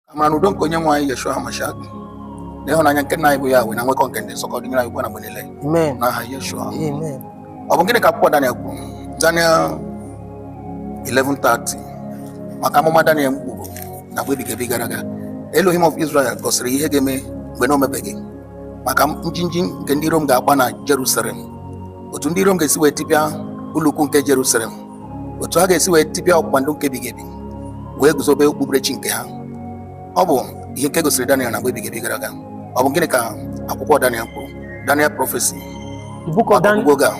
amara na udo nke onye nwe anyị Yeshua HaMashiach na ịhụnanya nke nna anyị bụ Yahweh na nwekọ nke ndị nsọ ka ọ dịnyere anyị ugbu a na mgbe niile Amen. n'aha Yeshua Amen. ọ bụ gịnị ka akwụkwọ Daniel kwuru Daniel 11:30 maka amụma Daniel kwuru na mgbe ebighị ebi gara aga Elohim of Israel gosiri ihe ga-eme mgbe na o mebeghị maka njinji nke ndị Rom ga-agba na Jerusalem otu ndị Rom ga-esi wee tipịa ụlọukwu nke Jerusalem otu ha ga-esi wee tipịa ọgbụgba ndụ nke ebighị ebi wee guzobe okpukperechi nke ha ọ bụ ihe nke gosiri Daniel na mgbe ebighị ebi gara aga ọ bụ gịnị ka akwụkwọ Daniel kwuru Daniel prophecy The book of, Dan- oge a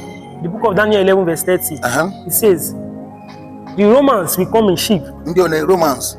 the book of Daniel 11, verse 30, aha, it says, The Romans will come in ships, ndị ole Romans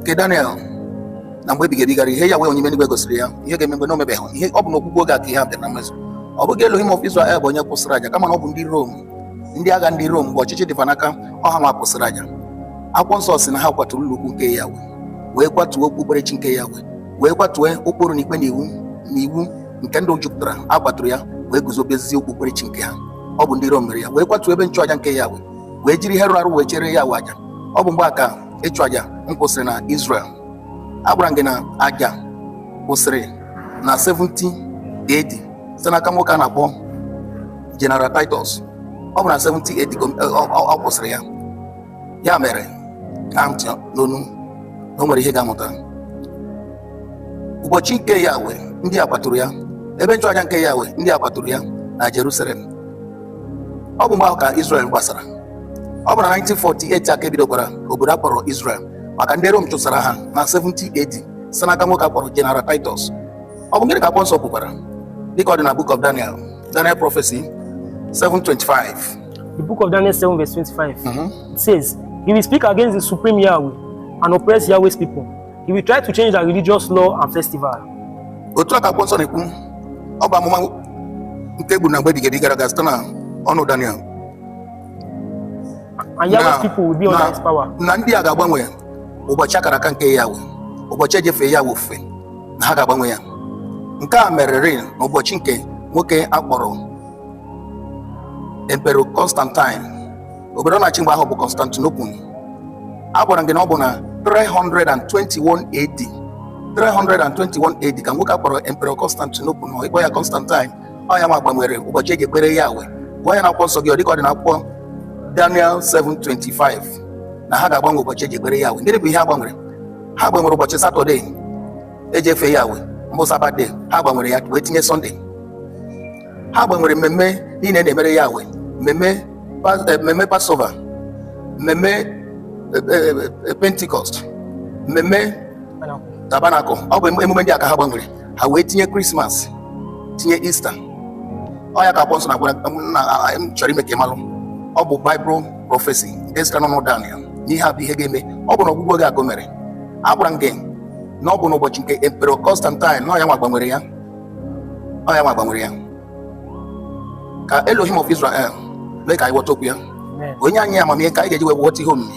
nke Daniel na mgbe ebighị ebi gara ihe Yahwe onye nwe eluigwe gosiri ya ihe ga-eme mgbe na o mebeghị ihe ọ bụ na ọgwụgwụ oge a ka ihe a bịara na mmezu ọ bụghị Elohim of Israel bụ onye kwụsịrị aja kama na ọ bụ ndị Rom ndị agha ndị Rom mgbe ọchịchị dị fa n'aka ọ ha nwa kwụsịrị aja akwụkwọ nsọ sị na ha kwaturu ụlọ ukwu nke Yahwe wee kwatuo okpukperechi nke Yahwe wee kwatuo ụkpụrụ na ikpe na iwu na iwu nke ndụ jupụtara a kwaturu ya wee guzobezie okpukperechi nke ha ọ bụ ndị Rom mere ya wee kwatuo ebe nchụaja nke Yahwe wee jiri ihe rụrụ arụ wee chụọrọ Yahwe aja ọ bụ mgbe a ka ịchụ aja kwụsịrị na Israel agwara m gị na aja kwụsịrị na 70 AD site n'aka nwoke a na-akpọ General Titus ọ bụ na 70 AD ka ọ- ọ ọ- ọ kwụsịrị ya ya mere ka ntị n'onu na o nwere ihe ị ga-amụta ụbọchị nke Yahweh ndị a kwaturu ya ebe nchụaja nke Yahweh ndị a kwaturu ya na Jerusalem ọ bụ mgbe ahụ ka Israel gbasara ọ bụ na 1948 a ka e bidokwara obodo a kpọrọ Israel maka ndị Rom chụsara ha na 70 AD si n'aka nwoke a kpọrọ General Titus ọ bụ gịnị ka akwụkwọ nsọ kwukwara dịka ọ dị na Book of Daniel Daniel Prophecy 7:25 The Book of Daniel 7 verse 25 mm -hmm. it says he will speak against the supreme Yahweh and oppress Yahweh's people he will try to change their religious law and festival otu a ka akwụkwọ nsọ na-ekwu ọ bụ amụma nke e bu na mgbe ebighị ebi gara aga site na ọnụ Daniel And Yahweh's people will be under his power. Na ndị a ga-agbanwe ụbọchị akara aka nke Yahweh, ụbọchị e ji efe Yahweh ofufe, na ha ga-agbanwe ya. Nke a merere n'ụbọchị nke nwoke a kpọrọ Emperor Constantine. Obodo ọ na-achị mgbe ahụ bụ Constantinople. Agwara m gị na ọ bụ na 321 AD 321 AD ka nwoke a kpọrọ Emperor Constantinople nọ ịkpọ ya Constantine ọ ya nwa gbanwere ụbọchị eji ekpere Yahweh gụọ ya n'akwụkwọ nsọ gị ọ dịka ọ dị n'akwụkwọ Daniel 7:25 na ha ga-agbanwe ụbọchị eji ekpere Yahweh gịnị bụ ihe ha gbanwere ha gbanwere ụbọchị satọde eji efe Yahweh mbụ Sabbath day ha gbanwere ya wee tinye sọnde ha gbanwere mmemme niile na-emere Yahweh mmemme Pas- eh, mmemme Passover mmemme eh, eh, eh, Pentecost mmemme Tabernacle ọ bụ emume ndị a ka ha gbanwere ha wee tinye krismas tinye Easter ọ ya ka akwụkwọ nsọ na-agwara na a- m chọrọ ime ka ị malụ ọ bụ Bible prophecy nke sitere n'ọnụ daniel na ihe a bụ ihe ga-eme ọ bụ n'ọgwụgwụ oge a ka o mere agwara m gị na ọ bụ n'ụbọchị nke emperor constantine na ọ ya nwa gbanwere ya ọ ya nwa gbanwere ya ka elohim of israel mee ka anyị ghọta okwu ya Amen. o nye anyị amamihe ka anyị ga-eji wee ghọta ihe omimi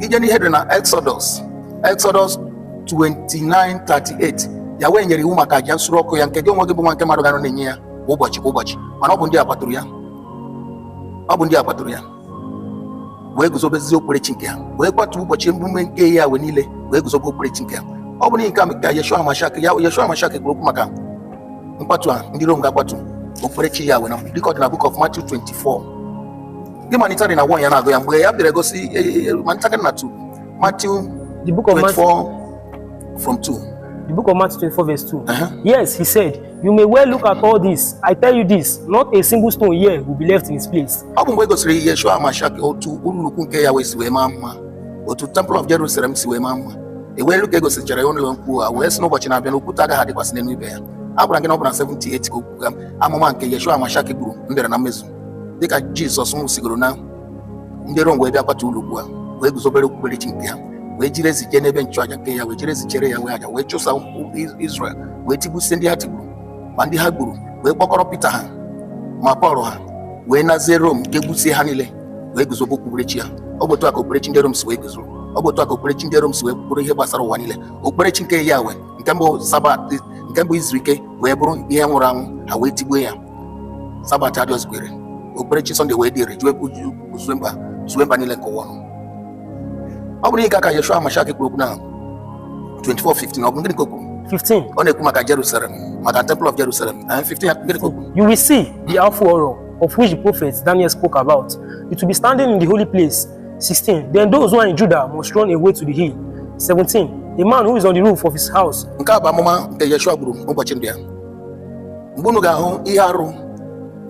i jee n'ihe dị na exodus exodus 29:38 Yahweh nyere iwu maka aja nsure ọkụ ya nke gị onwe gị bụ nwa nke mmadụ ga-anọ na-enye ya kwa ụbọchị kwa ụbọchị mana ọ bụ ndị a kwaturu ya ọ bụ ndị a kwaturu ya wee guzobezie okpukperechi nke ha wee kwatuo ụbọchị emume nke Yahweh niile wee guzobe okpukperechi nke ha ọ bụ n'ihi nke a ka yeshua mashiach ya yeshua mashiach kwuru okwu maka nkwatu a ndị rom ga-akwatu okpukperechi Yahweh na dịka ọ dị na book of matthew 24 gị malitere na 1 ya na-agụ ya mgbe ya bịara gosi e, e, e, malitere na 2 Matthew the book of 24 Matthew, from 2 the book of Matthew 24 verse 2 uh -huh. yes he said you may well look at all this I tell you this not a single stone here will be left in its place ọ bụ mgbe e gosiri Yeshua Mashiach otu ụlọ ukwu nke Yahweh si wee maa mma otu temple of Jerusalem si wee maa mma o wee lue ka e gosichara ya ụlọ ukwu a wee sị na ụbọchị na-abịa na okwute agaghị adịkwasị n'elu ibe ya a gwara gị na ọ bụ na 70 AD ka okwu amụma nke Yeshua Mashiach gburu bịara na mmezu dịka jizọs nwụsịgoro na ndị rom wee bịa kwatuo ụlọ ukwu a wee guzobere okpukperechi nke ha wee jiri ezi jee n'ebe nchụaja nke Yahweh jiri ezi chụọrọ Yahweh aja wee chụsa ụmụ israel wee tigbusie ndị ha tigburu ma ndị ha gburu wee kpọkọrọ pita ha ma pọl ha wee nazie rom nke gbusie ha niile wee guzobe okpukperechi ya ọ bụ otu a ka okpukperechi ndị rom si wee guzoro ọ bụ otu a ka okpukperechi ndị rom si wee bụrụ ihe gbasara ụwa niile okpukperechi nke Yahweh nke mbụ sabat nke mbụ izu ike wee bụrụ ihe nwụrụ anwụ ha wee tigbuo ya sabat adịrọzikwa okpukperechi sọnde wee dịrị jụọ ekwu zue mba zue mba niile nke ụwa ọnụ. ọ bụrụ nke a ka yeshua mashiach kwuru okwu na 24:15 ọ bụ gịnị ka o kwuru 15. ọ na-ekwu maka jerusalem maka temple of jerusalem na 15 ya gịnị ka o kwuru You will see the awful horror of which the prophet Daniel spoke about. It will be standing in the holy place. 16. Then those who are in Judah must run away to the hill. 17. A man who is on the roof of his house nke a bụ amụma nke yeshua gburu n'ụbọchị ndị a mgbe unu ga-ahụ ihe arụ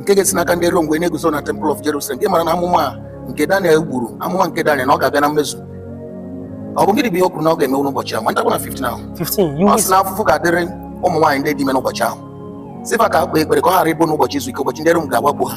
nke ga-esi n'aka ndị Rom wee na-eguzo na temple of Jerusalem gị mara na amụma a nke Daniel gburu amụma nke Daniel na ọ ga-abịa na mmezu ọ bụ gịnị bụ ihe o kwuru na ọ ga-eme n'ụbọchị ahụ ma ntakwa na 15 ahụ 15 ọ sị na afụfụ ga-adịrị ụmụ nwaanyị ndị dị ime n'ụbọchị ahụ sị fa ka ha kpee ekpere ka ọ ghara ịbụ n'ụbọchị izu ike ụbọchị ndị Rom ga-awakpo ha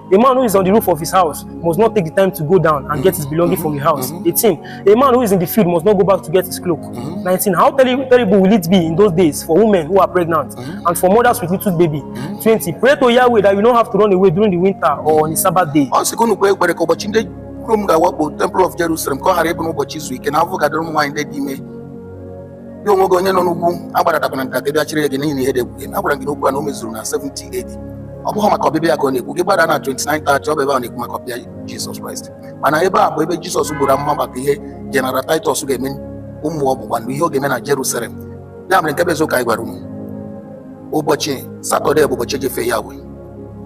A man who is on the roof of his house must not take the time to go down and get his belonging from the house. 18. A man who is in the field must not go back to get his cloak. 19. How terri- terrible will it be in those days for women who are pregnant and for mothers with little baby? 20. Pray to Yahweh that you don't have to run away during the winter or on a Sabbath day. ọ sị ka unu kpee ekpere ka ụbọchị ndị Rom ga-awakpo temple of Jerusalem ka ọ ghara ịbụ n'ụbọchị izu ike na afụfụ ga-adịrị ụmụ nwaanyị ndị dị ime gị onwe gị onye nọ n'ugwu agbadatakwana nka ka bịa chịrị gị n'ihi na ihe dị egwu a gwara gị na okwu a na o mezuru na 70 AD ọ bụghị maka ọbịbịa ya ka ọ na-ekwu gị gbada na 29 30 ọ bụ ebe a na-ekwu maka ọbịbịa Jizọs Kraịst mana ebe a bụ ebe Jizọs gburu amụma maka ihe General Titus ga-eme ụmụ ọgbụgba ndụ ihe ọ ga-eme na Jerusalem ya mere nke bụ eziokwu anyị gwara unu ụbọchị Satọde bụ ụbọchị e ji efe Yahweh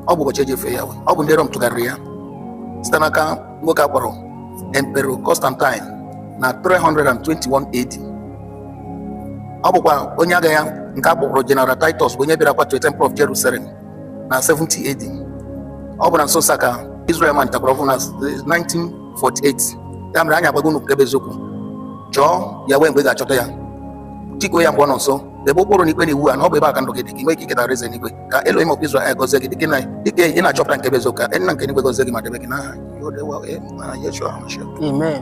ọ bụ ụbọchị e ji efe Yahweh ọ bụ ndị Rom tụgharịrị ya site n'aka nwoke a kpọrọ Emperor Constantine na 321 AD ọ bụkwa onye agha ya nke a kpọkwuru General Titus bụ onye bịara kwatuo Temple of Jerusalem na 70 AD ọ bụ na nso nso a ka Israel malitekwara ọhụrụ na 1948 ya mere anyị agwago unu nke bụ eziokwu chọọ Yahweh mgbe ị ga-achọta ya tikuo ya mgbe ọ nọ nso debe ụkpụrụ na ikpe na iwu a na ọ bụ ebe a ka ndụ gị dị ka ị nwee ike iketa alaeze n'igwe ka Elohim of Israel gọzie gị dịka na- dịka ị na-achọpụta nke bụ eziokwu ka nna nke eluigwe gọzie gị ma debe gị n'aha Yeshua HaMashiach. Amen.